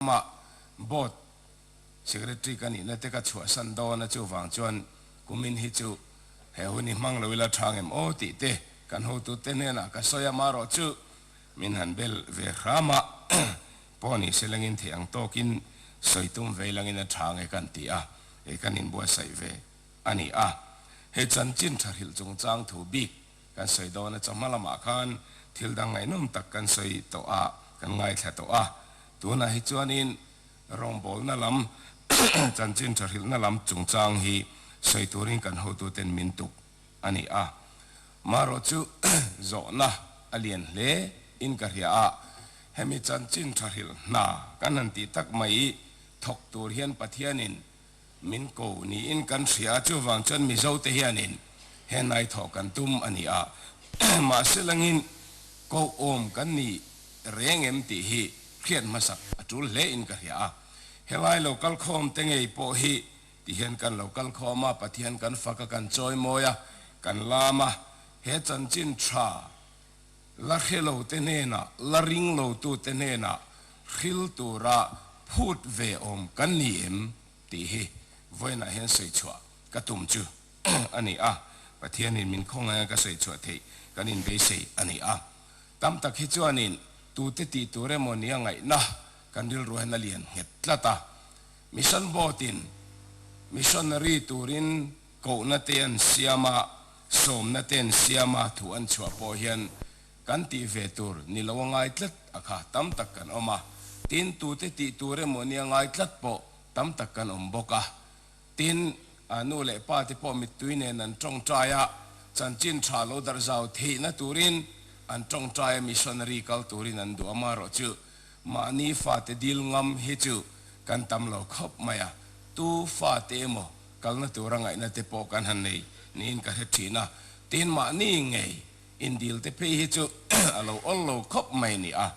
Hlawma Board Secretary ka nihna te ka chhuahsan dawn a, chuvang chuan kumin hi chu he hun hi hmang lo ila thang em aw tih te kan hotu te hnenah ka sawi a, mah rawh chu min han bel ve hram a, pawh ni se lengin thei ang tawkin sawi tum vei langin a thang e kan ti a, kan inbuatsaih ve a ni a, he chanchin thahrilh chungchang thu bik. Kan sawi dawn a, chawhma lamah khan thil dang ngaihnawm tak kan sawi tawh a, kan ngaithla tawh a. Tunah hi chuanin rawngbawlna lam, chanchin thahrilhna lam chungchang hi sawi turin kan hotuten min tuk a ni a. Marawh chu zawhna a lian hle in ka hria a, hemi chanchin thahrilh hna kan han tih tak mai thawk tur hian Pathianin Min ko niin kan hria, chuvang chuan Mizo te hianin he hnaithawh kan tum a ni a, mahse langin kohawm kan ni reng em tih hi hriat hmasak a tul hle in ka hria a, helai lo kal khawm te ngei pawh hi ti hian kan lo kal khawm a, Pathian kan faka kan chawi mawi a, kan lam a, he chanchin tha La khe lote hnenah, la ring lotute hnenah hril tura phut ve awm kan ni em? tih hi vawiinah hian sawi chhuah ka tum chu a ni a, Pathianin min khawng anga ka sawi chhuah theih kan inbeisei a ni a. Tam tak hi chuanin tute tih tur emaw nia ngaihna kan rilru hian a lian nghet tlat a. Mission boat-in, missionary turin, Kohna te an siam a, sawmna te an siam a, thu an chhuah pawh hian kan tih ve tur ni lo a ngai tlat a kha tam tak kan awm a, tin tute tih tur emaw nia ngai tlat pawh tam tak kan awm bawk a, tin a nu leh pa te pawh mittui nen an tawngtai a, chanchin tha lo darh zau theihna turin an tawngtai a, missionary kal turin an duh a, marawh chu mahni fate dil ngam hi chu kan tam lo khawp mai a, tu fate emaw Kalna tura ngaihna te pawh kan han nei niin ka hre thin a, tin mahni ngei in dil te phei hi chu a lo awl lo khawp mai ni a,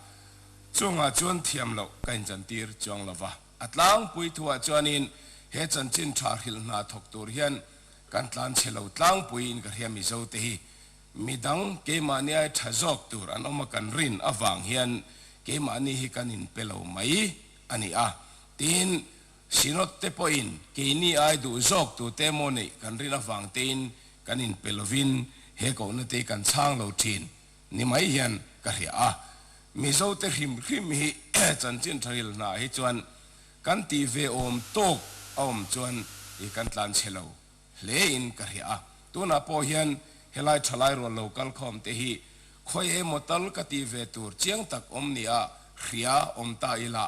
chungah chuan thiam loh ka inchantir chuang lova, a tlangpui thuah chuanin he chanchin tha hril hna thawk tur hian kan tlan chhe lo, tlangpui in ka hria mizo te hi midang keimahni ai tha zawk tur an awm a, kan rin avang hian keimahni hi kan in pe lo mai a ni a, tin. Sinod-te pawhin keini ai duh zawk tute emaw neih kan rin avang tein kan inpe lovin he kohna te kan chhang lo thin ni mai hian ka hria a. Mizote hrim hrim hi chanchin thahil hna hi chuan kan tih ve awm tawk a awm chuan i kan tlan chhe lo hle in ka hria a. Tunah pawh hian helai thalai rual lo kal khawm te hi khawi emaw tal ka tih ve tur chiang tak awm nia hria awm ta ila.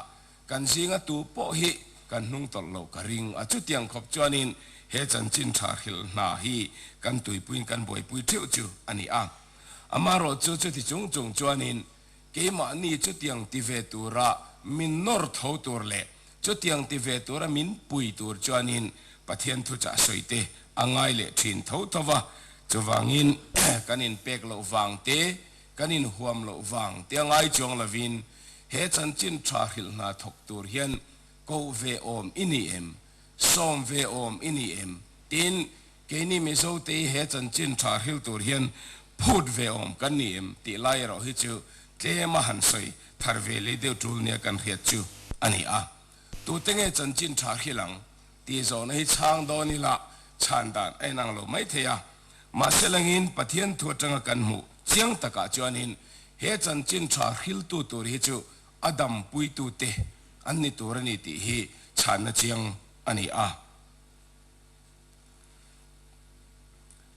Kan zinga tu pawh hi kan hnung tawlh lo ka ring a, chutiang khawp chuanin he chanchin tha hrilh hna hi kan tuipuiin kan buaipui theuh chu a ni a. Amarawh chu chuti chung chung chuanin keimahni chutiang ti ve tura min nawr tho tur leh chutiang ti ve tura min pui tur chuanin Pathian thuchah sawite a ngai leh thin tho tho va, chuvangin kan inpek loh vangte kan inhuam loh vang tia ngai chuang lovin he chanchin tha hrilh hna thawk tur hian koh ve awm i ni em? Sawm ve awm i ni em? tiin keini Mizo tehi he chanchin tha hril tur hian phut ve awm kan ni em? tih lai erawh hi chu tlema han sawi thar ve lei deuh tul nia kan hriat chu a ni a. Tute nge chanchin tha khil ang? tih zawhna hi chhang dawn ila chhan dan a inang lo mai thei a. Mahse langin Pathian thu atanga kan hmuh chiang takah chuanin he chanchin tha hriltu tur hi chu a dampuitute an ni tur a ni tih hi chhanna chiang a ni a.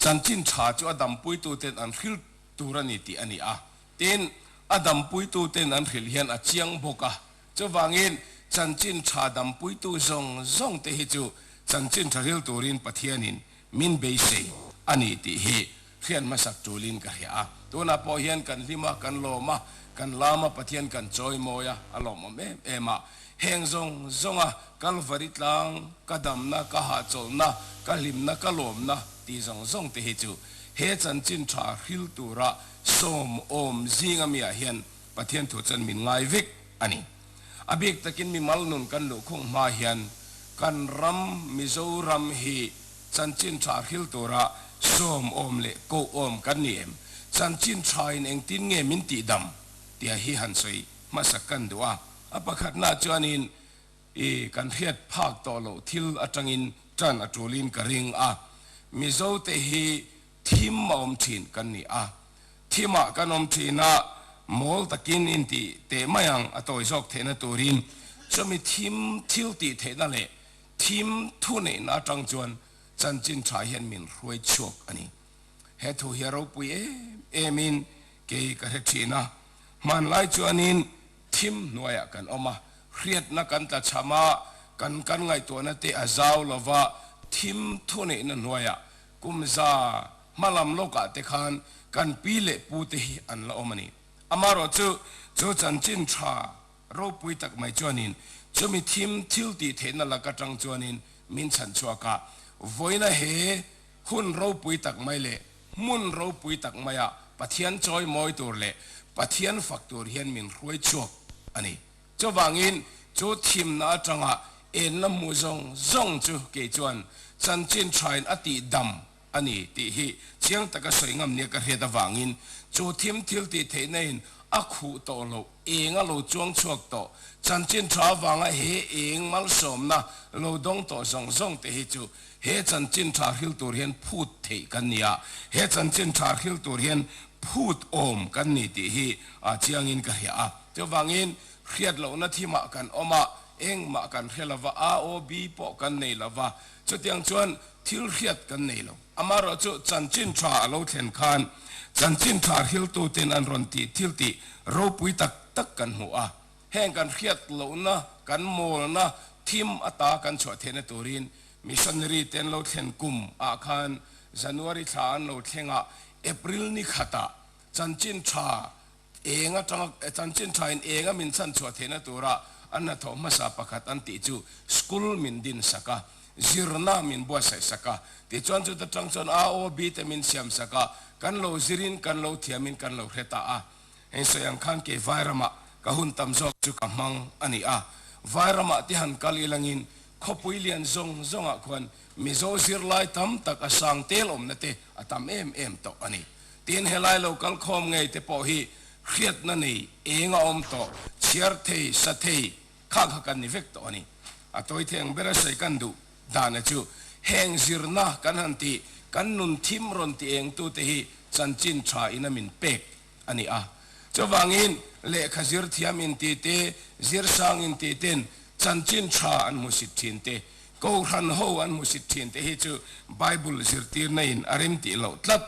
Chanchin tha chu a dampuituten an hril tur a ni tih a ni a. Tin, a dampuituten an hril hian a chiang bawk a. Chuvangin chanchin tha dampuitu zawng zawng te hi chu chanchin tha ril turin Pathianin min beisei a ni tih hi hriat hmasak tulin ka hria a. Tunah pawh hian kan hlim a, kan lawm a, kan lam a, Pathian kan chawi mawi a, a lawmawm em em a. Heng zawng zawnga Kalvari tlang, ka damna, ka hahchawlhna, ka hlimna, ka lawmna tih zawng zawng te hi chu he chanchin tha ril tura sawm awm zinga mi ah hian Pathian thu chuan min ngai vek a ni. A bik takin mi malnun kan luh khung hma hian kan ram Mizoram hi chanchin tha hril tura sawmawm leh kohawm kan ni em? Chanchin thain engtin nge min tihdam? tia hi han sawi hmasak kan duh a. A pakhatnaah chuanin i kan hriat phak tawh loh thil atangin tan a tulin ka ring a. Mizote hi Thim a awm thin kan ni a, thimah kan awm thina mawl takin inti teh mai ang a tawi zawk theihna turin chumi thim thil tih theihna leh thim thu neihna atang chuan chanchin tha hian min hruai chhuak a ni. He thu hi a ropui em emin kei ka hre thin a, hmanlai chuanin thim hnuaiah kan awm a, hriatna kan tla chham a, kan kan ngaihtuahna te a zau lova thim thu neihna hnuaiah Kumza hma lam lawkah te khan kan pi leh pu te hi an la awm a ni. Amarawh chu, chu chanchin tha ropui tak mai chuanin chumi thim thil tih theihna lak atang chuanin min chhan chhuak a, vawina he hun ropui tak mai leh hmun ropui tak maiah Pathian chawi mawi tur leh Pathian fak tur hian min hruai chhuak a ni. Chuvangin, chu thimna atanga enna mu zawng zawng chu kei chuan chanchin thain a tihdam a ni tih hi chiang taka sawi ngam nia ka hriat avangin, chu thim thiltih theihnain a khuh tawh loh, eng a lo chuang chhuak tawh, chanchin tha avanga he eng malsawmna lo dawng tawh zawng zawng te hi chu He chanchin ṭhahril tur hian phût theih kan ni a, he chanchin ṭhahril tur hian phût awm kan ni tih hi a chiangin ka hria a. Chuvangin, hriat lohna thimah kan awm a, engmah kan hre lo va, AOB pawh kan nei lo va, chutiang chuan thil hriat kan nei lo. Amaherawh chu chanchin ṭha a lo thlen khan chanchin ṭhahril tute'n an rawn tih thil tih ropui tak tak kan hmu a, Heng kan hriat lohna, kan mawlna, thim ata kan chhuah theihna turin missionary te an lo thlen kum ah khan January thla an lo thleng a, April ni khat ah chanchin tha eng atanga chanchin tha in eng a min chan chhuah theihna tur ah an hnathawh hmasa pakhat an tih chu school min din sak a, zirna min buatsaih sak a, tih chuan chuta tang chuan AOB te min siam sak a, kan lo zir in kan lo thiam in kan lo hre ta a. Hei sawi ang khan kei vai ramah ka hun tam zawk chu ka hmang a ni a, vai ramah te han kal ilangin khawpui lian zawng zawngah khuan Mizo zirlai tam tak a sang tel awmna te a tam em em tawh a ni. Tin, helai lo kal khawm ngei te pawh hi hriatna nei eng a awm tawh, chhiar thei, sa thei, khakha kan ni vek tawh a ni. A tawitheng ber a sawi kan duh. Dana chu heng zirna kan han tih kan nun thim rawn ti eng tu te hi chanchin tha in a min pek a ni a. Chuvangin lehkha zir thiam in ti te, zir sang in ti ten chanchin tha an hmusit thin te, kohhran ho an hmusit thin te hi chu Bible zirtirna in a rim tih loh tlat.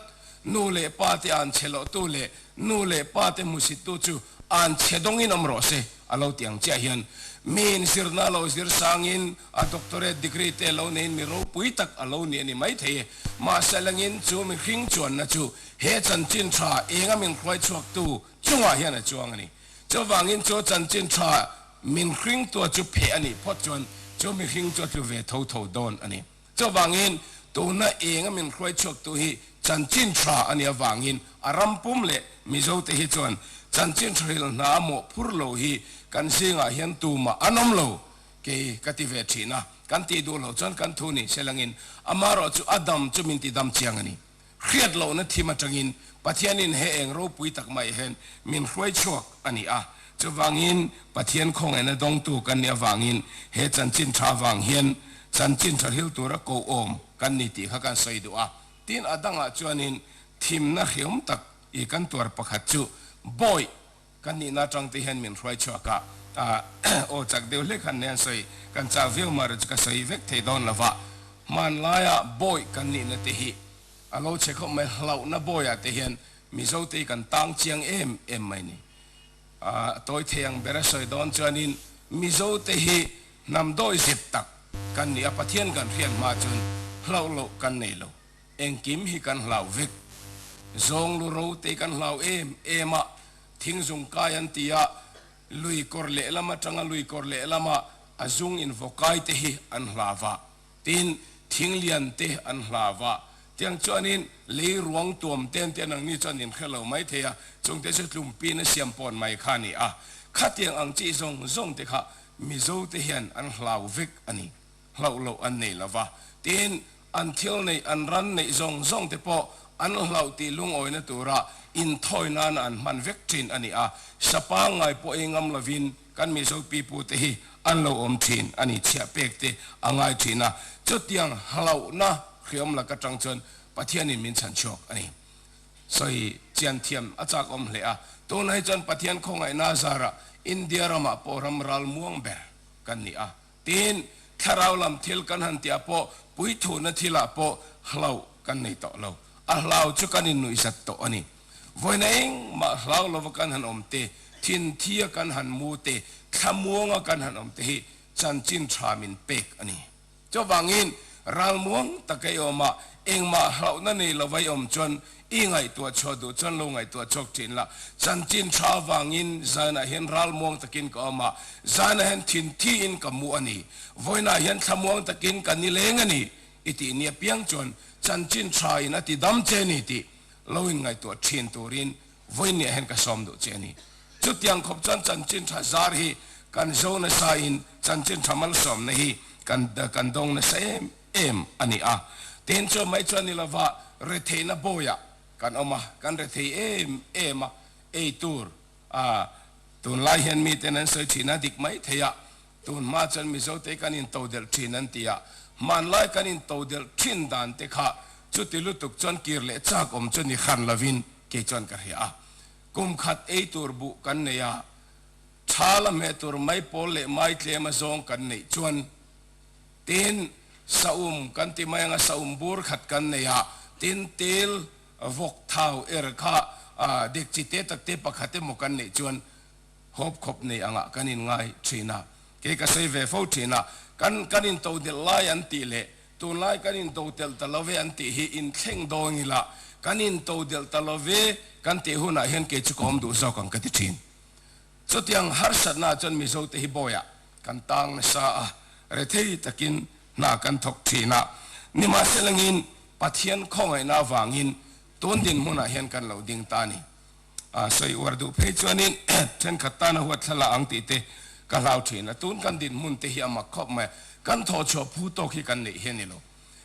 Nu leh pa te an che loh tu leh Nu leh pa te hmusittu chu an chhe dawngin awm rawh se a lo ti ang chiah hian miin zirna lo zir sangin a doctorate degree te lo neiin mi ropui tak a lo ni a ni maithei e. Mahse lengin chu mi hring chuanna chu he chanchin tha enga min hruai chhuaktu chungah hian a chuang a ni. Chuvangin chu chanchin tha min hringtu chu pheh a nih phawt chuan chu mi hring chu a tlu ve tho tho dawn a ni. Chuvangin, tuna eng a min hruai chhuaktu hi Chanchinṭha a nih avangin a ram pum leh Mizote hi chuan Chanchinṭha ril hna mawh phur lo hi kan zingah hian tumah an awm lo kei ka ti ve ṭhin a, kan tih duh lo chuan kan thu ni. Selangin, amaherawhchu a dam chu min tidam chiang a ni. Hriat lohna thim atangin Pathianin he eng ropui tak mah hian min hruai chhuak a ni a. Chuvangin, Pathian khawngaihna a dawngtu kan nih avangin he chanchin tha avang hian chanchin tha hril tura koh-awm kan ni tih kha kan sawi duh a. Tin, a dangah chuanin thimna hreawm tak i kan tuar pakhat chu Bawipa Kan nihna atang te hian min hruai chhuak a, aw chak deuh hle khan nen sawi, kan chak viau mah rih chu ka sawi vek thei dawn lo va, hmanlaia bawi kan nihna te hi a lo che khawp mai, hlauhna bawiah te hian Mizo te hi kan tang chiang em em mai ni, a tawi thei ang ber a sawi dawn chuanin Mizo te hi hnam dawi zet tak kan ni a, Pathian kan hriat hma chun hlauh loh kan nei lo. Engkim hi kan hlau vek. Zawnglu ro te kan hlau em em a, thingzung kai an ti a, lui kawr lehlam atanga lui kawr lehlama a zung invawkai te hi an hlav a, tin, thing lian te an hlav a, tiang chuanin lei ruang tuam ten te nang ni chuan inhre lo mai thei a, chungte chu tlumpin a siam pawn mai kha a ni a, khatiang ang chi zawng zawng te kha Mizo te hian an hlau vek a ni. hlauh loh an nei lo va, tin an thil neih an ran neih zawng zawng te pawh an hlauh tih lungawina tura inthawi nana an hman vek thin a ni a, sapa ngai pawh ei ngam lovin kan Mizo pipu te hi an lo awm thin a ni chhiah pek te a ngai thin a, chutiang hlauhna hriam lak atang chuan Pathianin min chhan chhuak a ni. Sawi chian thiam a chak awm hle a, tuna hi chuan Pathian khawngaihna zarah India ramah pawh ramral muang ber kan ni a, Tiin, thlarau lam thil kan han tia pawh puithuhna thilah pawh hlauh kan nei tawh lo. A hlau chu kan innuihzat tawh a ni. Vawiina engmah hlau lova kan han awm te, thinthia kan han mu te, thlamuanga kan han awm te hi chanchin tha min pek a ni. Chuvangin, ralmuang taka i awmah engmah hlauhna nei lova i awm chuan I ngaihtuah chhuah duh chuan lo ngaihtuah chawk thin la, chanchin tha avangin zanah hian ral muang takin ka awm a, zanah hian thin thiin ka mu a ni. Vawiinah hian thla muang takin ka ni leng a ni, i tih ni apiang chuan chanchin thain a tidam che ni tih lo inngaihtuah thin turin vawiin nih ah hian ka sawm duh che a ni. Chutiang khawp chuan chanchin tha zar hi kan zo nasa in chanchin tha malsawmna hi kan kan dawng nasa em. em a ni a, tin chu mai chuan ni lova retheihna bawiah kan awm a, kan rethei em em a, ei tur a, tunlai hian miten an sawi thin a dik mai thei a, tun hma chuan Mizote kan into delh thin an ti a, hmanlai kan into delh thin dan te kha chuti lutuk chuan kir leh chak awm chu ni hran lovin kei chuan ka hria a, kum khat ei tur buh kan nei a, tha la hmeh tur mai pawl leh mai tlem a zawng kan neih chuan, Tin, sahum kan ti mai anga sahum bur khat kan nei a, tin tel vawk thau er kha dekchi te tak te pakhat emaw kan neih chuan hawp khawp nei angah kan inngai thin a, kei ka sawi ve fo thin a, kan kan into nelh lai an tih leh tunlai kan into telh ta love an tih hi inthleng dawn ila, kan into delh ta love kan tih hunah hian kei chu ka awm duh zawk ang ka ti thin. Chutiang harsatnaah chuan Mizote hi bawiah Kan tang nasa a, rethei takin hna kan thawk thin a, nimahselangin Pathian khawngaihna avangin tun dinhmunah hian kan lo ding ta a ni. Sawi uar duh phei chuanin thenkhat tan a huat thla la ang tih te ka hlau thin a, tun kan dinhmun te hi a mak khawp mai a, kan thawhchhuah phu tawk hi kan neih hi a ni lo.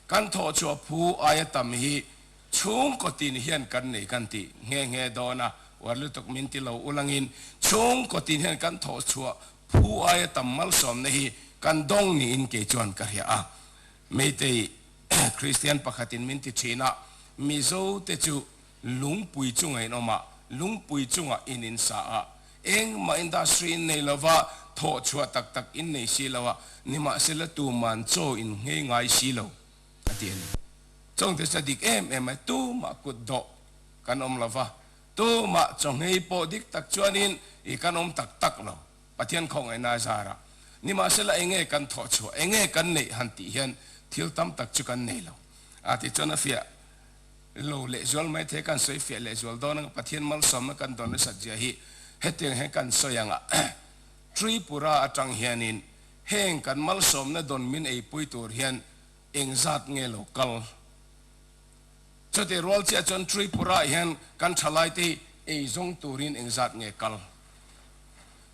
Kan thawhchhuah phu aia tam hi, Chhung kawtin hian kan nei kan ti nghe nghe dawn a, uar lutuk min ti lo ulh angin chhung kawtin hian kan thawh chhuah phu aia tam malsawmna hi kan dawng niin kei chuan ka hria a. Meitei Kristian pakhatin min ti thin a, Mizo te chu lungpui chunga in awmah, lungpui chungah in in sa a, engmah industry in nei lova, thawh chhuah tak tak in nei si lo a, nimahsela tuman chaw in nghei ngai si lo. a ti a ni. Chawngte chu a dik em em mai, tumah kut dawh kan awm lo va, tumah chawngei pawh dik tak chuanin i kan awm tak tak lo, Pathian khawngaihnaa zara. Nimahsela enge kan thawh chhuah, enge kan neih han tih hian thil tam tak chu kan nei lo. A ti chuan a fiah lo leh zual maithei kan sawi fiah leh zual dawn ang, Pathian malsawmna kan dawn resat zia hi hetiang hian kan sawi ang a, Tripura atang hianin Heng kan malsawmna dawn min ei pui tur hian eng zat nge lo kal? Chutiah rual chiah chuan Tripura ah hian kan thalaite hi ei zawng turin eng zat nge kal?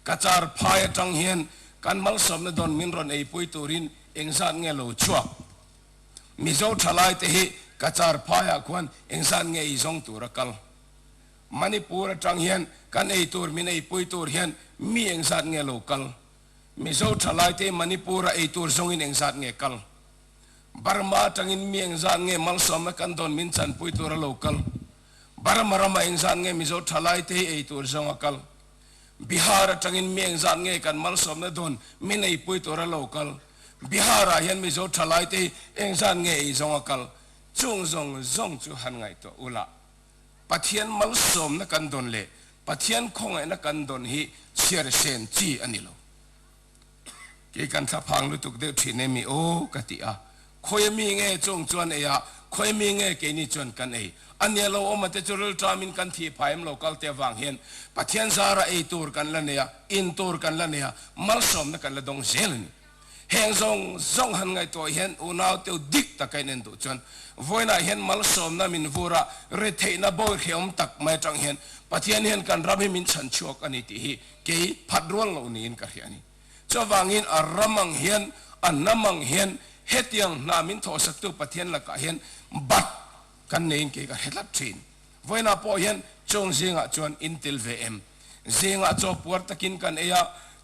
Ka char phai atang hian kan malsawmna dawn min rawn ei pui turin eng zat nge lo chhuak? Mizo thalaite hi ka char phai ah khuan eng zat nge ei zawng tur a kal? Manipur atang hian kan ei tur min ei pui tur hian mi eng zat nge lo kal? Mizo thalaite Manipur a ei tur zawngin eng zat nge kal? Burma atangin mi eng zat nge malsawmna kan dawn min chanpui tur a lo kal? Burma ramah eng zat nge Mizo thalaite hi ei tur zawng a kal? Bihar atangin mi eng zat nge kan malsawmna dawn min eipui tur a lo kal? Bihar ah hian Mizo thalaite hi eng zat nge ei zawng a kal? Chung zawng zawng chu han ngaihtuah ula. Pathian malsawmna kan dawn leh Pathian khawngaihna kan dawn hi chhiaresen chi a ni lo. Kei kan thlaphang lutuk deuh thin em i aw ka ti a, khawia mi nge chawng chuan ei a, khawia mi nge keini chuan kan ei a nia lo awm ate chu rilṭam in kan thih phai em lo kalte avang hian Pathian zara ei tur kan la nei a, in tur kan la nei a, malsawmna kan la dawng zel a ni. Heng zawng zawng han ngaihtuah hian unaute dik taka in en duh chuan vawiinah hian malsawmna min vur a, ri theihna bawi hreawm tak mai atang hian Pathian hian kan ram hi min chhan chhuak a ni tih hi kei phat rual lo niin ka hria a ni. Chuvangin a ram ang hian, a hnam ang hian hetiang hna min thawhsaktu Pathian lakah hian bat kan neiin kei ka hretlat thin. Vawiinah pawh hian chawng zingah chuan in tel ve em? Zingah chaw puar takin kan ei a,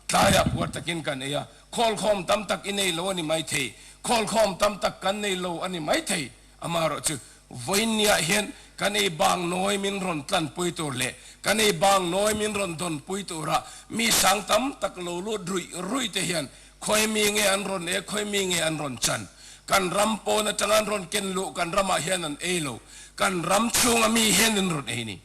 tlaiah puar takin kan ei a, khawlkhawm tam tak i nei lo a ni maithei, khawlkhawm tam tak kan nei lo a ni maithei. Amaherawh chu, vawiin niah hian kan ei bang nawi min rawn tlanpui tur leh kan ei bang nawi min rawn dawnpui tura mi sang tam tak lo lut ruih ruihte hian Khawi mi nge an rawn e, khawi mi nge an rawn chan? Kan ram pawn atanga an rawn ken luh, kan ramah hian an ei lo. Kan ram chhunga mi hian an rawn ei ni.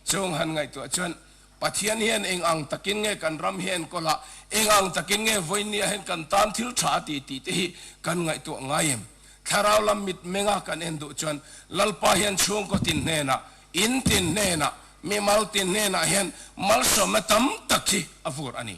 Chung han ngaihtuah chuan, Pathian hian eng ang takin nge kan ram hi a enkawl a, eng ang takin nge vawinia hian kan tan thil tha a ti tih te hi kan ngaihtuah ngai em? Thlarau lam mitmenga kan en duh chuan Lalpa hian chhungkaw tin hnenah, in tin hnenah, mimal tin hnenah hian malsawmna tam tak hi a vur a ni.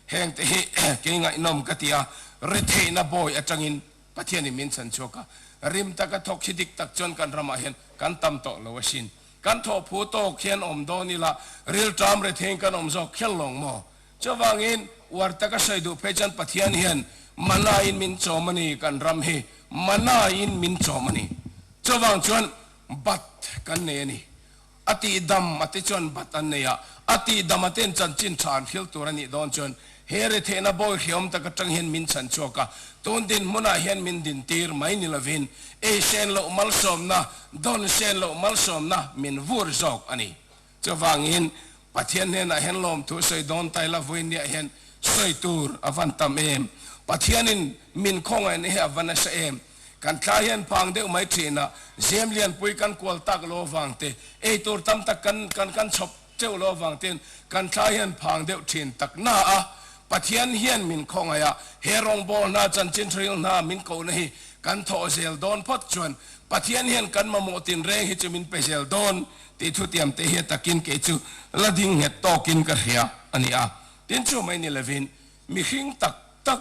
Heng te hi kei ngaihnawm ka ti a, retheihna bawi atangin Pathian in min chhan chhuak a, rim taka thawk khi dik tak chuan kan ramah hian kan tam tawh lo a sin. Kan thawhphu tawk hian awm dawn ila, rilṭam rethein kan awm zawk kher lawng maw? Chuvangin uar taka hre duh phei chuan Pathian hian manna in min chawm a ni, kan ram hi manna in min chawm a ni, chuvang chuan bat kan nei a ni. A tih dam a te chuan bat an nei a, a tih dam a ten chuan chin tha an hrilh tur a nih dawn chuan he rethehna bawi hriawm tak atang hian min chhan chhuak a, tun din hmunah hian min din tir mai ni lovin ei hrian loh malsawmna, dawn hrian loh malsawmna min vur zawk a ni. Chuvangin Pathian hnenah hian lawmthu sawi dawn tai la vawiin ni ah hian sawi tur a van tam em? Pathianin min khawngaihna hi a va nasa em? Kan thla hian pang deuh mai thin a, zem lianpui kan kual tak law vang te, ei tur tam tak kan kan kan chhawp cheu law vang ten kan thla hian phang deuh thin tak na a. Pathian hian min khawngaih a, he rawngbawr hna, chanchin hril hna min kohna hi kan thawh zel dawn phawt chuan Pathian hian kan mamawh tin reng hi chu min pe zel dawn tih thutiam te hi takin kei chu la ding nghet tawkin ka hria a ni a. Tin chu mai ni lovin mi hring tak tak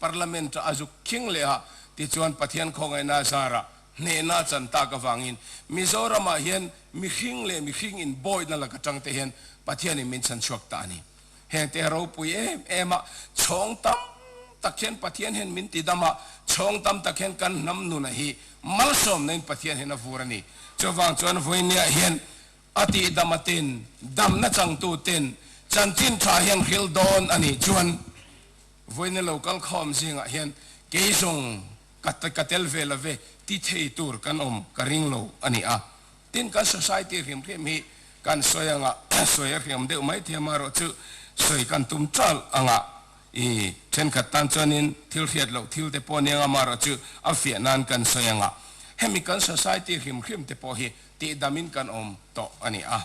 Parliament a zuk khing leh a, tichuan Pathian khawngaihna zara hnehna chan tak avangin Mizoramah hian mihring leh mihring inbawihna lak atang te hian Pathian in min chhan chhuak ta a ni. Hengte a ropui em em a, chhawng tam tak hian Pathian hian min ti dam a, chhawng tam tak hian kan hnam nunah hi malsawmna in Pathian hian a vur a ni. Chuvang chuan Vuiniah hian a tih dam atin damna changtu ten chanchin tha hian hril dawn a nih chuan, Vawiina lo kal khawm zingah hian kei zawng ka ka tel ve lo ve ti thei tur kan awm ka ring lo a ni a. Tin, kan society hrimhrim hi kan sawi anga sawi a hriam deuh mai thei amaherawh chu sawi kan tum chal anga i thenkhat tan chuanin thil hriat loh thil te pawh a ni anga amaherawh chu a fiah nan kan sawi anga hemi kan society hrimhrim te pawh hi tihdamin kan awm tawh a ni a.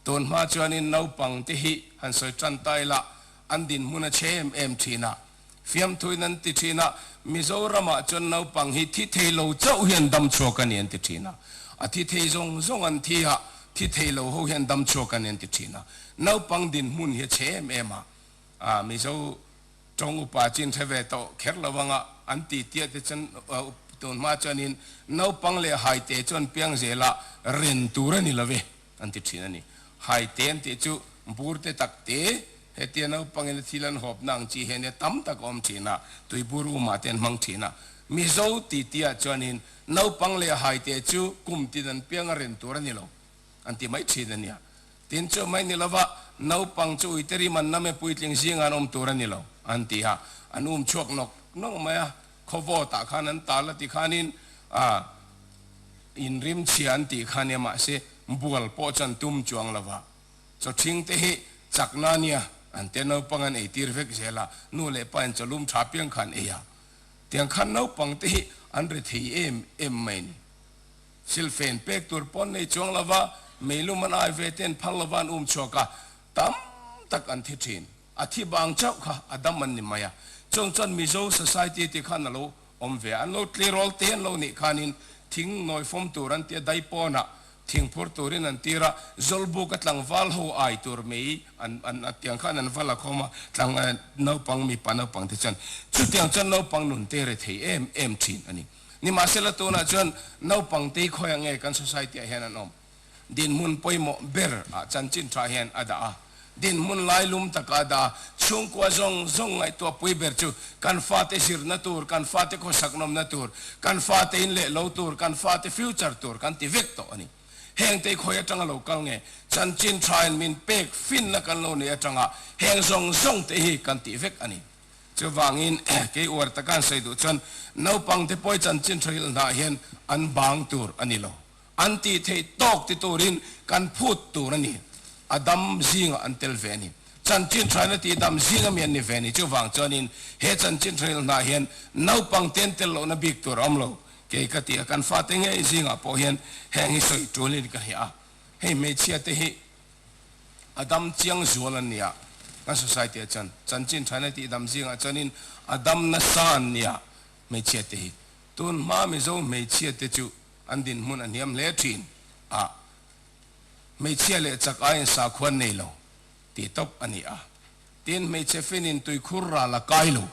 Tun hma chuanin naupang te hi han sawi tan ta ila, an dinhmun a che em em thin a, fiamthuin an ti thin a, Mizoramah chuan naupang hi thi thei lo chauh hian dam chhuak a ni an ti thin a, a thi thei zawng zawng an thi a, thi thei lo ho hian dam chhuak a ni an ti thin a, naupang dinhmun hi a che em em a, Mizo Tawng upa chin hre ve tawh kher lo anga an ti tia te chuan up tun hma chuanin naupang leh haite chuan piang zela ren tur a ni lo ve an ti thin a ni. Haite an tih chu bur te tak te hetia naupangin a thil an hawpna ang chi hian nia tam tak a awm thin a, tui bur uma te an hmang thin a. Mizo ti tia chuanin naupang leh haite chu kum tin an piang a ren tur a ni lo. An ti mai thin a nia. Tin chu mai ni lova, naupang chu Uiteri man lam e puitling zingah an awm tur a ni lo, an ti a. An um chhuak nawk nawk mai a, khawvawt ah khan an tal a ti khanin ah in rimchhia an tih kha nia mahse bual pawh chuan tum chuang lo va. Chawhring te hi chakna a nia, an ti a. Naupang an ei tir vek zel a, nu leh pa in chaw lum tha piang kha an ei a. Tiang khan naupang te hi an ri thei em em mai a ni. Thil fen pek tur pawn nei chuang lova, meilum an ai ve ten phar lova an um chhuak a, tam tak an thi thin. A thi bang chauh kha a dam an ni mai a, chawng chuan Mizo society tih khan a lo awm ve a, an lo tlirawl te an lo nih khanin thing nawi fawm tur an tia dai pawnah thing phur turin an tir a, zawlbuk a tlangval ho ai tur mai an an a tiang khan an va la khawm a, tlang naupang mipa naupang te chuan chutiang chuan naupang nun te rethei em em thin a ni. Nimahsela tunah chuan naupang tei khawi ang nge kan society ah hian an awm? Dinhmun pawimawh ber ah chanchin tha hian a dah a, dinhmun lai lum tak ah a dah a, chhungkua zawng zawng ngaihtuah pui ber chu kan fate zirna tur, kan fate khawsaknawmna tur, kan fate in leh lo tur, kan fate future tur kan ti vek tawh a ni. Heng tei khawi atang a lo kal nge? Chanchin tha in min pek finna kan lo nei atang a, heng zawng zawng te hi kan tih vek a ni. Chuvangin, kei uar taka an sawi duh chuan naupangte pawi chanchin thahrilh hnah hian an bang tur a ni lo. An tih theih tawk ti turin kan phut tur a ni. A dam zingah an tel ve a ni. Chanchin thahrina tih dam zing ami an ni ve a ni. Chuvang chuanin, he chanchin thahrilh hnah hian naupangte an tel lohna bik tur a awm lo. Kei ka ti a, kan fate ngei zingah pawh hian heng hi sawi tulin ka hria a, hei hmeichhiate hi a dam chiang zual an nia, kan society ah chuan chanchin thaina tih dam zingah chuanin a dam nasa an nia hmeichhia te hi, tun hma mizo hmeichhia te chu an dinhmun a hniam hle thin a, hmeichhia leh chak aiin sakhuan nei lo ti tawp a ni a, tin hmeichhe fin in tuikhur ral a kai lo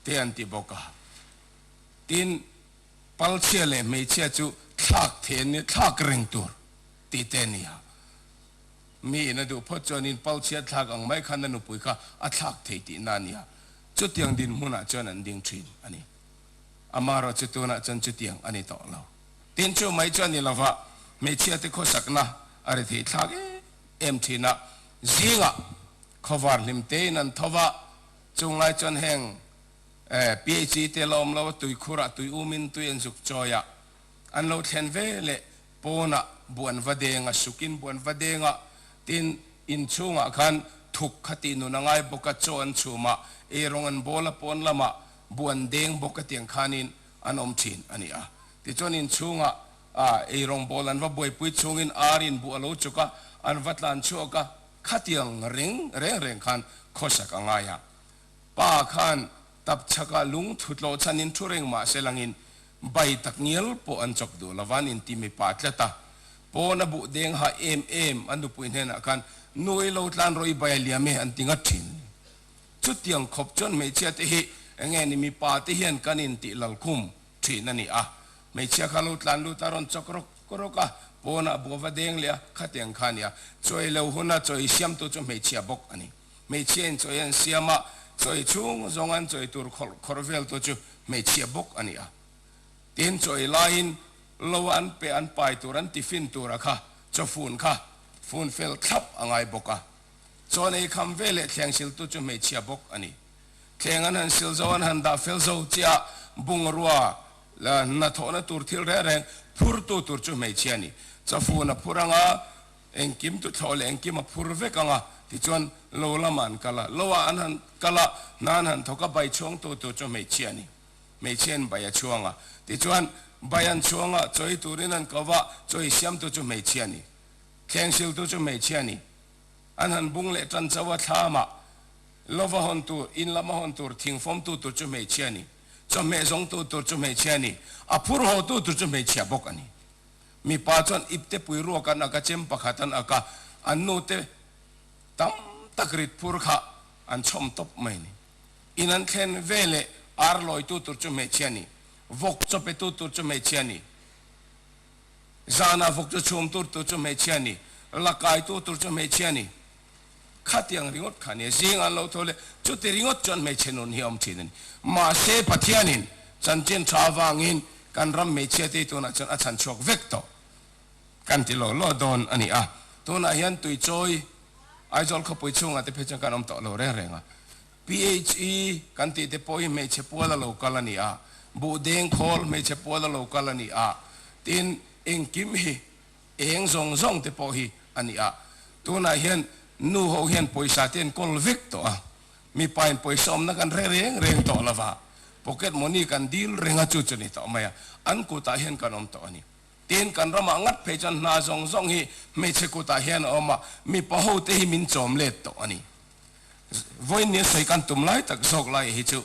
te an ti bawk a, tin palchhia leh hmeichhia chu thlak the thlak reng tur tih te ni a. Mi in a duh phawt chuan in pal chhiat thlak ang mai khan a nupui kha a thlak thei tih na a ni a. Chutiang dinhmun ah chuan an ding thin a ni. Ama erawh chu tun ah chuan chutiang a ni tawh lo. Tin chu mai chuan ni lova hmeichhia te khawsak na a ri thei thlak em em thin a. Zing ah khawvar hlim te in an tho va, chung lai chuan heng PHE te la awm lo a, tui khur ah, tui um in, tui en zuk chawi ah an lo thlen ve leh Pawnah buan va deng a sukin buan va deng a, tin inchhungah khan thuk kha tih nun a ngai bawk a, chaw an chhum a, ei rawng an bawl a pawn lamah buan deng bawk a tiang khanin an awm thin a ni a. Tichuan inchhungah ei rawng bawl an va buaipui chungin ar in buh a lo chuk a, an va tlan chhuak a, khatiang reng reng reng khan khawsak a ngai a, Pa khan tapchhakah lung thu tlawh chhanin thu reng mah se langin bai tak ngial pawh an chawp duh lo van inti mipa tlat a pawn a buh deng ha em em a nupui hnenah khan Nuei lo tlan rawi bai a liam e an ti ngat thin chutiang khawp chuan hmeichhia te hi enge ni mipa te hian kan intih lal khum thin a ni a hmeichhia kha lo tlan lut a rawn chawk rawk rawk a pawn a buh va deng leh a khateng kha a nia chawi lo huna chawi siam tu chu hmeichhia bawk a ni. Hmeichhiain chawi an siam a, chawi chhung zawng an chawi tur khawlh khawrh vel tu chu hmeichhia bawk a ni a. Tin, chawi laiin lo an pe an pai tur an tiffin tura kha chawfun kha fun fel thlap a ngai bawk a. Chawn ei kham ve leh thleng sil tu chu hmeichhia bawk a ni. Thleng an han sil zo, an han dah fel zo chiah bungrua hnathawhna tur thil reng reng phurtu tur chu hmeichhia a ni. Chawfun a phur ang a, Engkim tuthlawh leh engkim a phur vek ang a, tichuan lo lamah an kal a, lo ah an han kal a, hna an han thawk a, bai chhuangtu tur chu hmeichhia a ni. Hmeichhiain bai a chhuang a, tichuan bai an chhuang a, chawi turin an ko va, chawi siamtu chu hmeichhia a ni, thleng hriltu chu hmeichhia a ni. An han bung leh tan chauh a, thla amah love a hawn tur, in lam a hawn tur, thing fawmtu tur chu hmeichhia a ni, chawhmeh zawngtu tur chu hmeichhia a ni, a phur haw tu tur chu hmeichhia bawk a ni. Mipa chuan ipte pui ruak an ak a, chem pakhat an ak a, an nu te tam tak rit phur kha an chhawm tawp mai ni. In an thlen ve leh ar lawitu tur chu hmeichhia ni, vawk chaw petu tur chu hmeichhia ni, zanah vawk chu chhum tur tur chu hmeichhia ni, la kaitu tur chu hmeichhia ni. Khatiang ringawt kha nia, zing an lo tho le. Chuti ringawt chuan hmeichhe nun hi a awm thin a ni. Mahse Pathianin chanchin tha avangin kan ram hmeichhia tei tunah chuan a chhan chhuak vek tawh kan ti lo lo dawn a ni a. Tunah hian tuichawi Aizawl khawpui chhungah te pawh hi chuan kan awm tawh lo reng reng a. PHE kan tih te pawh hi hmeichhe pual a lo kal a ni a, buh deng khawl hmeichhe pual a lo kal a ni a. Tin, engkim hi Eng zawng zawng te pawh hi a ni a, tunah hian nu ho hian pawisa te an kawl vek tawh a, mipa in pawisa awmna kan hre reng reng tawh lo va, pocket money kan dil reng a chu chu ni tawh mai a, an kutah hian kan awm tawh a ni. Tin, kan ramah ngat phei chuan hna zawng zawng hi hmeichhe kutah hian a awm a, mipa ho te hi min chawm let tawh a ni. Vawiin ni a sawi kan tum lai tak zawk lai hi chu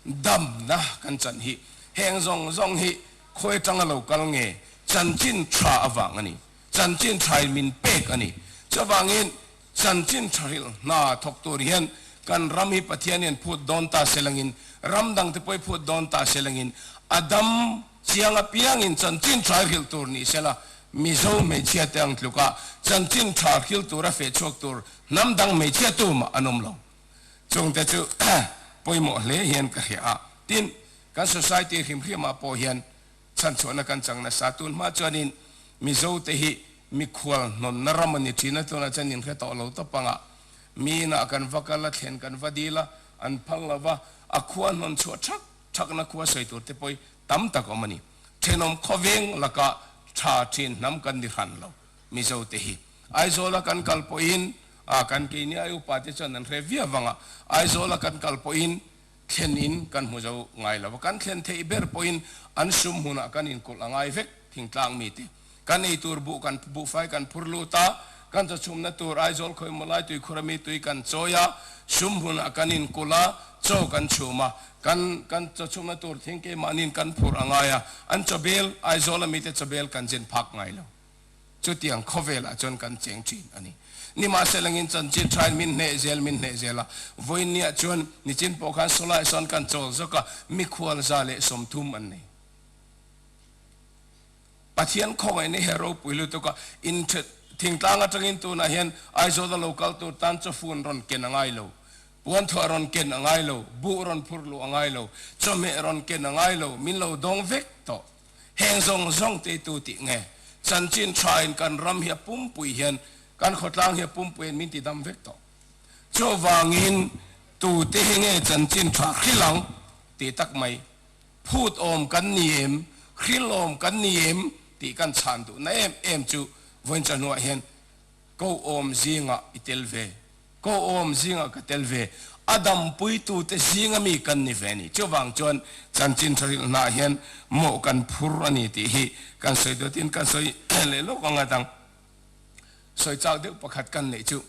Damna kan chan hi heng zawng zawng hi khawi tang a lo kal nge, chanchin tha avang a ni. Chanchin thain min pek a ni. Chuvangin chanchin thahrilh hna thawk tur hian kan ram hi Pathian hian phut dawn ta se langin, ram dangte pawh hi phut dawn ta se langin a dam chiang apiangin chanchin tha hi hrilh tur ni se la, Mizo hmeichhia te ang tluk a chanchin tha hrilh tura feh chhuak tur hnam dang hmeichhia tumah an awm lo. Chungte chu pawimawh hle hian ka hria a, tin, kan society hrim hrimah pawh hian chhanchhuahna kan chang nasa. Tunhma chuanin Mizote hi mikhual hnawtna ram a ni thin a, tunah chuan inhre tawh lo ta panga miinah kan va kal a, thlen kan va dil a, an phal lo va, a khua hnawn chhuah ṭhak ṭhakna khua sawi tur te pawh hi tam tak awm a ni. Ṭhenawm khawveng laka ṭha ṭhin hnam kan ni hran lo. Mizo te hi Aizawla kan kal pawhin a kan kei nia, upa te chuan an hre viau avanga Aizawla kan kal pawhin thlen in kan hmu zo ngai lo va, kan thlen theih ber pawhin an sum hunah kan in kulh a ngai vek, thingtlang mi te kan ei tur buh kan buhfai kan phur lut a, kan chawchhumna tur Aizawl Khawimawlai tui khur ami tui kan chawi a, sum hunah kan in kulh a, chaw kan chhum a, kan kan chawchhumna tur thing keimahniin kan phur a ngai a, an chawbel Aizawla mi te chawbel kan zin phak ngai lo. Chutiang khawvelah chuan kan cheng thin a ni. Nimahselangin chanchin thain min hneh zel min hneh zel a, vawinia chuan nichin pawh khan Solaia sawn kan chawl zawk a, mikhualza leh sawmthum an nei. Pathian khawngaih ni he ropui lutuk a, in ṭhet thingtlang aṭangin tunah hian Aizawl a lo kal tur tan chawfu an rawn ken a ngai lo, puanthuah a rawn ken a ngai lo, buh a rawn phur luh a ngai lo, chawhmeh a rawn ken a ngai lo, min lo dawng vek tawh. Heng zawng zawng te tu tih nge? Chanchin tha in kan ram hi a pumpui hian kan khawtlang hi a pumpui an min ti dam vek tawh. Chuvangin tute hi nge chanchin tha hril ang ti tak mai? Phut awm kan ni em? Hril awm kan ni em? tih kan chhan duhna em em chu vawiin chahnuah hian Kohawm zingah i tel ve, kohawm zingah ka tel ve, a dampuitute zinga mi kan ni ve a ni. Chuvang chuan chanchin thahrilh hnah hian mawh kan phur a ni tih hi kan sawi duh tin kan sawi leh lawk anga dang sawi chak deuh pakhat kan neih chu,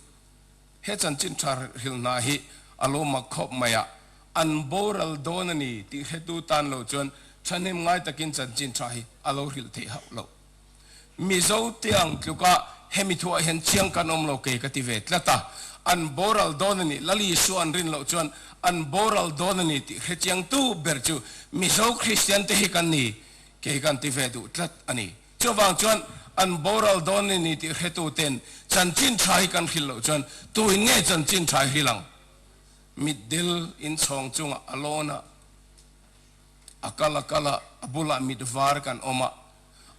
he chanchin thahrilh hnah hi a lo mak khawp mai a, an boral dawn a ni tih hretu tan lo chuan thahnem ngai takin chanchin tha hi a lo hrilh theih hauh loh. Mizo tiang tluka hemi thu ah hian chiang kan awm lo kei ka ti ve tlat a, an boral dawn a nih, Lal Isua an rin loh chuan an boral dawn a nih tih hre chiang tu ber chu Mizo Kristian te hi kan ni kei kan ti ve duh tlat a ni. Chuvang chuan an boral dawn a nih tih hre tu ten chanchin tha hi kan hrilh loh chuan tuin nge chanchin tha i hrilh ang? Mitdil inchhawng chungah a lawn a. A kal a kal a, a bulah mit var kan awm a,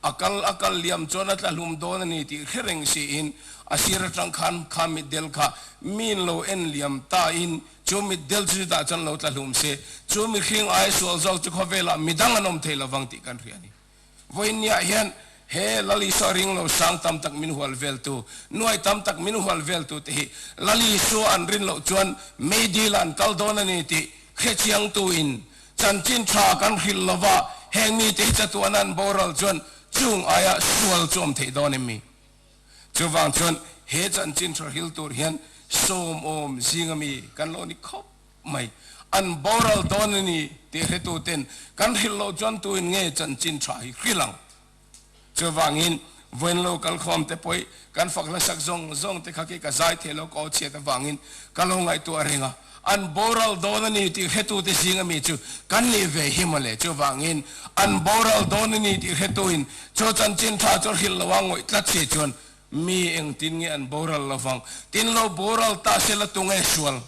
a kal a kal liam chuan a tla hlum dawn a ni tih thlireng siin a sir atang khan kha mit del kha min lo en liam ta in chu mit del chu chutah chuan lo tla hlum se chu mitthling ai sual zawk chu khawvelah midang an awm thei lovang tih kan hria a ni. Vawiin niah hian he Lalisua ring lo sang tam tak min hual veltu, nuai tam tak min hual veltu te hi Lalisua an rin loh chuan meidila an kal dawn a ni tih hrechiang tuin chanchin tha kan hrilh lova heng mite hi chatuana an boral chuan chung aia sual chuam theih dawn em mi? Chuvang chuan he chanchin tha hril tur hian sawmawm zing a mi kan lo ni khawp. mai. An boral dawn a ni tih hretu ten kan hrilh loh chuan tuin nge chanchin tha hi hrilh ang? Chuvangin vawiin lo kal khawm te pawih kan fak hlasak zawng zawng te kha khi ka zai thei lo ka aw chhiat avangin ka lo ngaihtuah a ring a, an boral dawn a ni tih hretu te zing a mi chu kan nih ve hi maw le? Chuvangin an boral dawn a ni tih hretuin chu chanchin tha chu hrilh loh a ngawih tlat si chuan mi engtin nge an boral lovang? Tin lo boral ta se la tunge sual?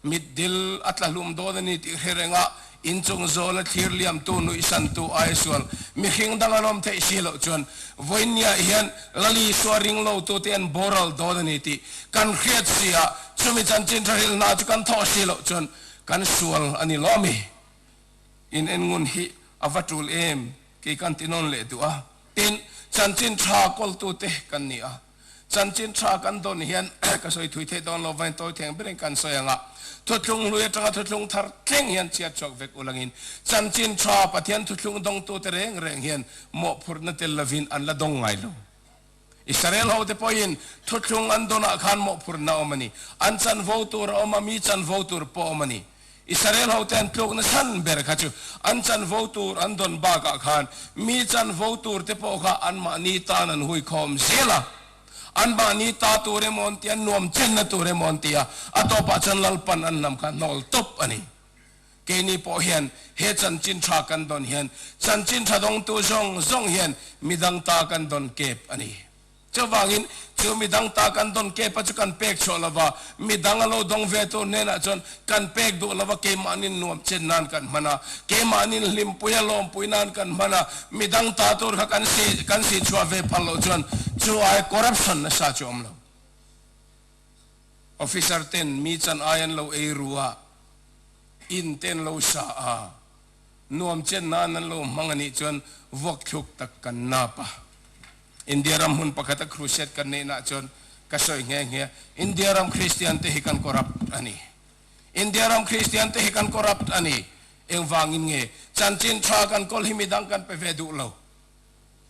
Mitdil a tla hlum dawn a ni tih hre renga inchung zawla thlir liamtu nuihsantu Aisual mihring dang an awm theih si loh chuan vawinia hian Lali sual ring lotu te an boral dawn a ni tih kan hriat si a, chumi chanchin hraril hna chu kan thawh si loh chuan kan sual a ni lawm i in en ngun hi a va tul em kei kan ti nawn leh duh a tin chanchin hrakawl tu te kan ni a. Chanchin tha kan dawn hian ka sawi thui theih dawn lo vain tawi theng berin kan sawi ang a, Thuthlung hlui atanga thuthlung thar thleng hian chhiat chhuak vek ulak in chanchin tha Pathian thuthlung dawng tu te reng reng hian mawhphurhna tel lovin an la dawng ngai lo. Israel ho te pawh in thuthlung an dawn ah khan mawhphurhna awm a ni, an chanvo tur a awm a, mi chanvo tur pawh awm a ni. Israel ho ten tluk nasan ber kha chu an chanvo tur an dawn bakah khan mi chanvo tur te pawh kha anmahni tan an hui khawm zel a, anmahni ta tur emaw an ti a, nuam chenna tur emaw an ti a, a tawpah chuan Lalpan an hnam kha hnawl tawp a ni. Keini pawh hian he chanchin tha kan dawn hian chanchin tha dawngtu zawng zawng hian midang ta kan dawn kep a ni. Chuvangin, chu mi dang ta kan dawn kepa chu kan pek chhuah lova, mi dang a lo dawng ve tur hnenah chuan kan pek duh lova, keimahnin nuam chet nan kan hman a, keimahnin hlimpui a lawmpui nan kan hman a, mi dang ta tur kha kan si kan si chhuah ve phal loh chuan chu ai corruption nasa chu a awm lo. Officer ten mi chan ai an lo ei ru a, in te an lo sa a, Nuam chian nan an lo hmang a nih chuan vuak thluk tak kan nap a. India ram hmun pakhata crusade kan neih nah chuan ka sawi nghe nghe a, India ram Kristian te hi kan corrupt a ni. India ram Kristian te hi kan corrupt a ni. Engvangin nge? Chanchin tha kan kawl hi midang kan pe ve duh lo.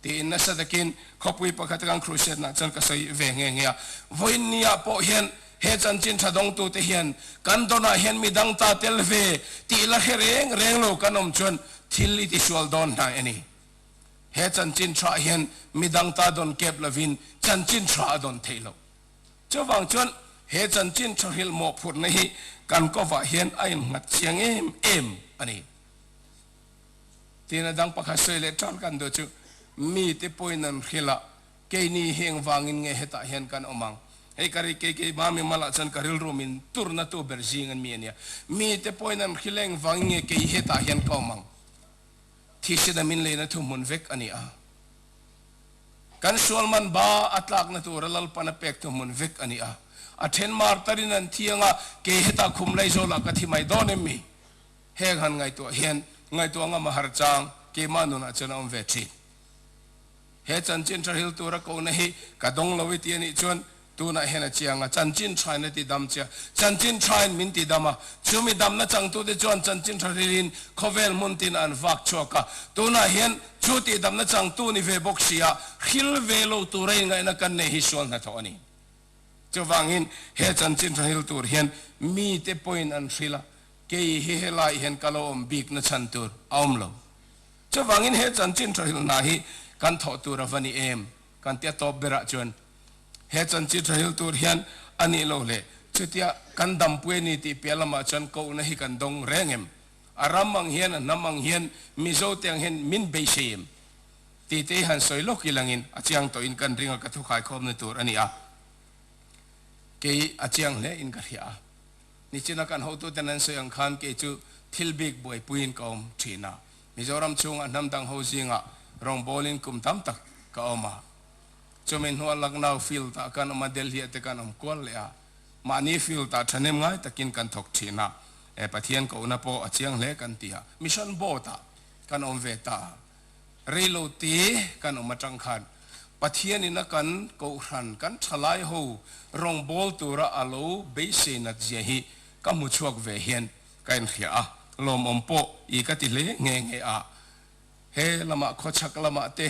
Tiin nasa takin khawpui pakhat kan khrushetna chuan ka sawi ve nghe nghe a. Vawiin ni ah pawh hian he chanchin tha dawngtu te hian kan dawn ah hian midang ta tel ve tih la hre reng reng lo kan awm chuan thil i tihrual dawn hnai a ni. He chanchin tha hian midang ta dawn kep lovin chanchin tha a dawn theih loh. Chuvang chuan he chanchin tha hrilh mawhphurhna hi kan kawvah hian a innghat chiang em em a ni. Tina dang pakhat sawi leh tan kan duh chu, mite pawhin an hrilh a, kei ni heng vangin nge hetah hian kan awm ang? Hei ka ri, kei kei ba mi malh ah chuan ka rilru min tur na tu ber zing an mi a nia. Mite pawhin an hrilh eng vangin nge kei hetah hian ka awm ang? Thihsina min lei na thu hmun vek a ni a. Kan sual man ba a tlak na tur a lalpan a pek thu hmun vek a ni a. A then mar tarin an thiang a, kei hetah khum lei zawl ah ka thi mai dawn em mi? Heng han ngaihtuah hian ngaihtuah ngam a har chang, keimah nunah chuan a awm ve thin. He chanchinṭha hril tura kohna hi ka dawng lo i ti a nih chuan tunah hian a chiang a, chanchinṭhain a ti dam che a, chanchinṭhain min ti dam a, chumi damna changtute chuan chanchinṭha hrilin khawvel hmun tina an vak chhuak a, tunah hian chu tih damna changtu ni ve bawk sia, hril ve lo tura ingaihna kan nei hi sual hna thawh a ni. Chuvangin, he chanchin thahil tur hian mite pawhin an hrilh a, kei hi helaiah hian ka lo awm bikna chhan tur a awm lo. Chuvangin, he chanchin thahil hna hi kan thawh tur a va ni em? kan ti a tawp berah chuan, He chanchin thahil tur hian a nih lo hle. Chutia kan dampuia ni tih piah lamah chuan kohna hi kan dawng reng em? A ram ang hian, a hnam ang hian, Mizo te ang hian min beisei em? Ti te i han sawi lawk i langin a chiang tawh in kan ring a ka thu khai khawm na tur a ni a, kei a chiang hle in ka hria a, nichina kan hotu ten an sawi ang khan kei chu thil bik buai pui in ka awm thin a, Mizoram chhung a hnam dang ho zing ah rawngbawl in kum tam tak ka awm a, chu min hnuah Lucknow field ah kan awm a, Delhi ah te kan awm kual leh a, mahni field ah thahnem ngai tak in kan thawk thin a, eh Pathian kohna pawh a chiang hle kan ti a, mission boat ah kan awm ve ta a. Rei lo te kan awm atang khan Pathian in a kan kohhran kan tha lai ho rawngbâwl tura a lo beisei natzia hi ka hmu chhuak ve hian ka inhriah a, lawmawm pawh i ka ti hle nghe nghe a. He lama khawchhak lama te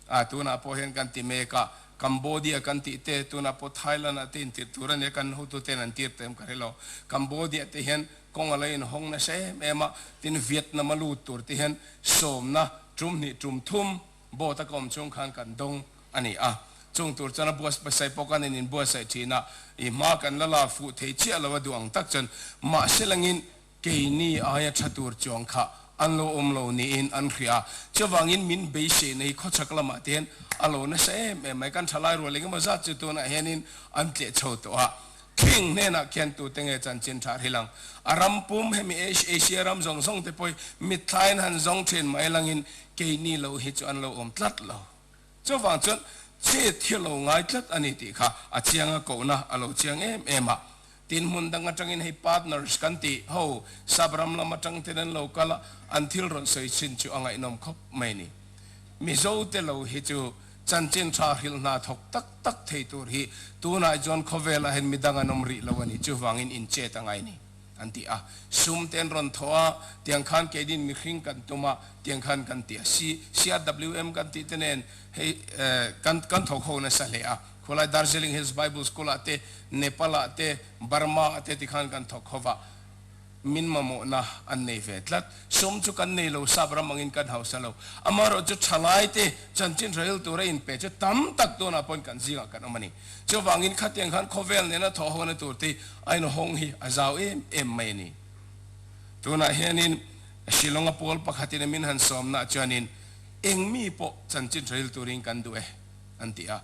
a tunah pawh hian kan ti mek a, Cambodia kan tih te tunah pawh Thailand-ah te intirh tur a nia, kan hotuten an tirh ta em ka hrelo. Cambodia te hian Kawng a la inhawng nasa em em a, tin Vietnam a lut tur te hian sawmna tum hnih tum thum boat a kawm chung khan kan dawng a ni a, chung tur chuan a buatsaih pasai pawh kan in inbuatsaih thin a, i hma kan la lak fuh thei chiah lo a duh ang tak chuan mahse langin keini aia tha tur chuang kha an lo awm lo niin an hria, chuvangin min beiseina hi khawchhak lamah te hian a lo nasa em em mai, kan thalai rual eng emaw zat chu tunah hianin an tleh chho tawh a. King hnenah khiantute nge chanchin thahril ang? A ram pum hemi Asia ram zawng zawng te pawhi mitthlain han zawng thin mai langin keini lo hi chu an lo awm tlat lo. Chuvang chuan chet hi lo ngai tlat a ni tih kha a chiang a kohna a lo chiang em em a. Tin hmun dang atangin hei partners kan tih ho sub ram lam atang ten an lo kal a, an thil rawn sawi chin chu a ngaihnawm khawp mai a ni. Mizote lo hi chu Chanchin tha hrilh hna thawk tak tak thei tur hi tunah chuan khawvel ahin midang an awm rih lo a ni, chuvangin inchet a ngai ni, an ti a. Sum te an rawn thaw a, tiang khan keidin mihring kan tum a, tiang khan kan ti a. Si, CRWM kan tih te nen hei kan kan thawk ho nasa hle a, khawlai Darjeeling Hills Bible School ah te, Nepal ah te, Burma ah te tikhan kan thawk ho va. Min mamawhna an nei ve tlat. Sum chu kan nei lo, sap ram angin kan hausa lo. Amaherawh chu tha ngaite chanchin hralhril tura inpe chu tam tak tunah pawn kan zingah kan awm a ni. Chuvangin khatiang khan khawvel nena thawhawkna tur te hi a inhawng hi a zau em em mai a ni. Tunah hianin Shillong-a pawl pakhatin a min han sawmnaah chuanin eng mi pawh chanchin hralhril turin kan duh e an ti a.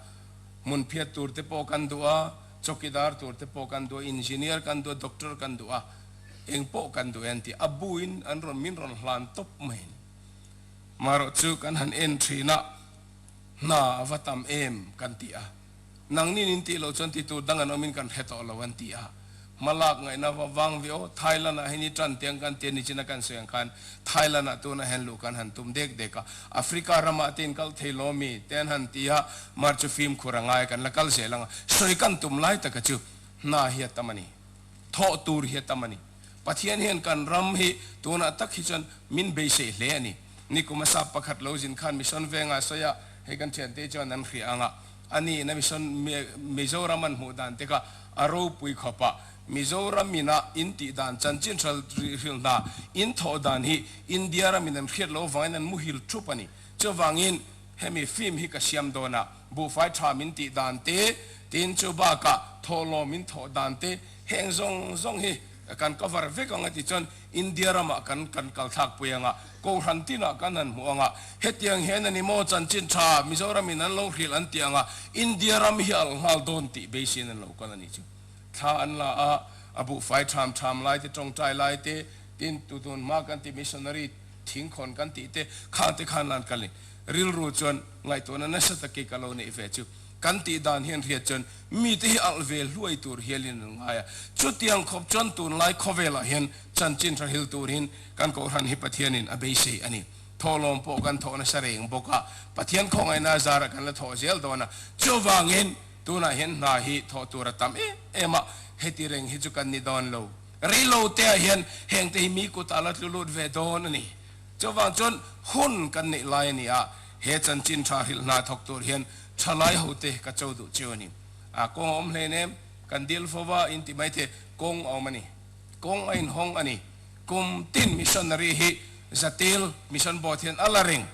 Hmun phiat tur te pawh kan duh a. Chawkidar tur te pawh kan duh a, Engineer kan duh a, Doctor kan duh a, eng pawh kan duh e an ti. A buin an rawn min rawn hlan tawp mai ni. Marawh chu kan han en thin a, hna a va tam em? kan ti a. Nang nin in tih loh chuan ti tur dang an awm in kan hre tawh lo an ti a. Hma lak ngaihna va vang ve aw, Thailand ah hian i tan tiang kan ti a, nichin a kan sawi ang khan Thailand ah tunah hian luh kan han tum dek dek a. Africa ramah te in kal thei law mi te an han ti a, mar chu fim khur a ngai kan la kal zel ang a, sawi kan tum lai taka chu hna hi a tam a ni, thawh tur hi a tam a ni, Pathian hian kan ram hi tunah tak hi chuan min beisei hle a ni, nikum a sap pakhat lo zin khan mission vengah sawi a, hei kan thiante hi chuan an hria ang a, A ni na mission Mizoram an hmuh dan tek a, a ropui khawp a, Mizoram in a in tih dan chanchin hralhril hna in thawh dan hi India ram in an hriat lo vangin an muhil thup a ni. Chuvangin hemi film hi ka siam dawn a, buhfai tha min tih dan te, tin chu bakah thawhlawm in thawh dan te heng zawng zawng hi kan cover vek ang a ti chuan, India ramah kan kan kal thlak pui ang a, Kohhran tinah kan han hmuh ang a, hetiang hian a ni maw chanchin tha Mizoram in an lo hrilh an ti ang a, India ram hi alh nghal dawn tih beisin an lo kal a nih chu. Thla an la a, a buhfai tham tham lai te, tawngtai lai te, tin, tutun hma kan ti missionary thing khawn kan tih te, khangte khan an kal ni. Rilru chuan ngaihtuahna nasa tak ke ka lo neih ve chu. Kan tih dan hian hriat chuan mite hi alh ve hluai tur hial in an ngai a, chutiang khawp chuan tunlai khawvel ah hian chanchin hrahil tur in kan Kohhran hi Pathian in a beisei a ni. Thawhlawm pawh kan thawh nasa reng bawk a, Pathian khawngaihna zar ah kan la thawh zel dawn a, chuvang in tunah hian hna hi thawh tur a tam em em a, heti reng hi chu kan ni dawn lo. Rei lo te ah hian hengte hi mi kut ah la tlu lut ve dawn a ni, chuvang chuan hun kan neih lai a ni a, He chanchin tha hrilh hna thawk tur hian thalai ho te ka cho duh chiu a ni. A kawng a awm hlein em? Kan dil fo va, in ti mai thei. Kawng a awm a ni. Kawng a in hawng a ni. Kum tin missionary hi Zatil Mission Board hian a la reng.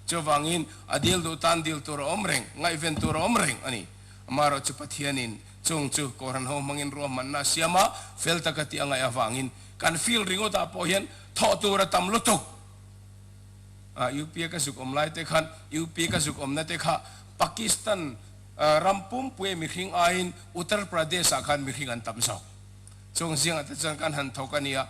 Chuvangin a dil duh tan dil tur a awm reng, ngaihven tur a awm reng a ni. Amarawh chu Pathianin chung chu kawhhran ho hmangin ruahmanna siama fel taka tih a ngaih avangin kan field ringawtah pawh hian thawh tur a tam lutuk. a UPA ka zuk awm lai te khan UPA ka zuk awmna te kha Pakistan ram pumpuia mihring aiin Uttar Pradesh ah khan mihring an tam zawk chuan zing ah te chuan kan han thawk a nia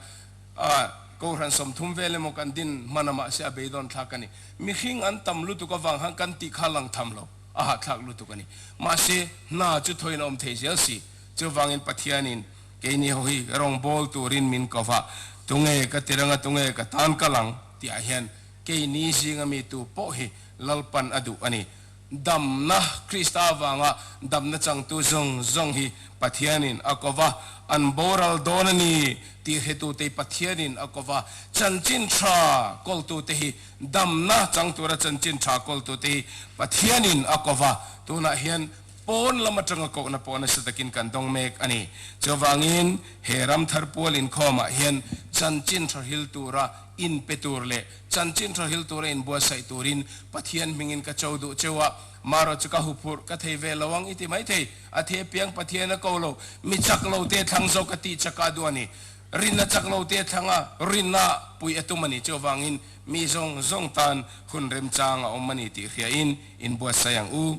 a kohhran sawmthum vel emaw kan din hmana mahse a bei dawn thlak a ni mihring an tam lutuk avang khan kan tih kha lang tham lo a hahthlak lutuk a ni mahse hna chu thawina awm thei zel si chuvangin Pathian in Kei ni ho hi erong bawl turin min ko va, tunge ka ti reng a, tunge ka tan kal ang tihah hian kei ni zinga mi tu pawh hi lalpan a duh a ni. Damna, Krista vanga damna changtu zawng zawng hi Pathianin a ko va, an boral dawn a ni tih hretute Pathianin a ko va, chanchin tha kawltute hi, damna chang tura chanchin tha kawltute hi Pathianin a ko va, tunah hian, pawn lam atanga kohna pawh nasa takin kan dawng mek a ni. Chuvangin, he ram thar pual inkhawmah hian chanchin hrahil tura inpe tur leh chanchin hrahil tura inbuatsaih turin Pathian hmingin ka cho duh cheu a, marawchu ka huphurh ka thei ve lo ang i ti maithei. A the piang Pathian a ko lo, mi chak lo te thlang zawk a tih chakah duh a ni. Rin a chak lo te thlanga rinah puih a tum a ni. Chuvangin, mi zawng zawng tan hun remchang a awm a ni tih hriain inbuatsaih ang u.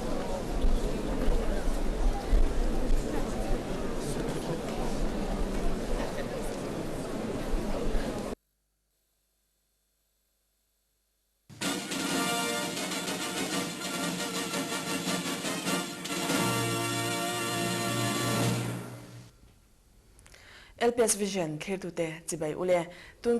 LPS Vision thlir tute chibai ule. Tun.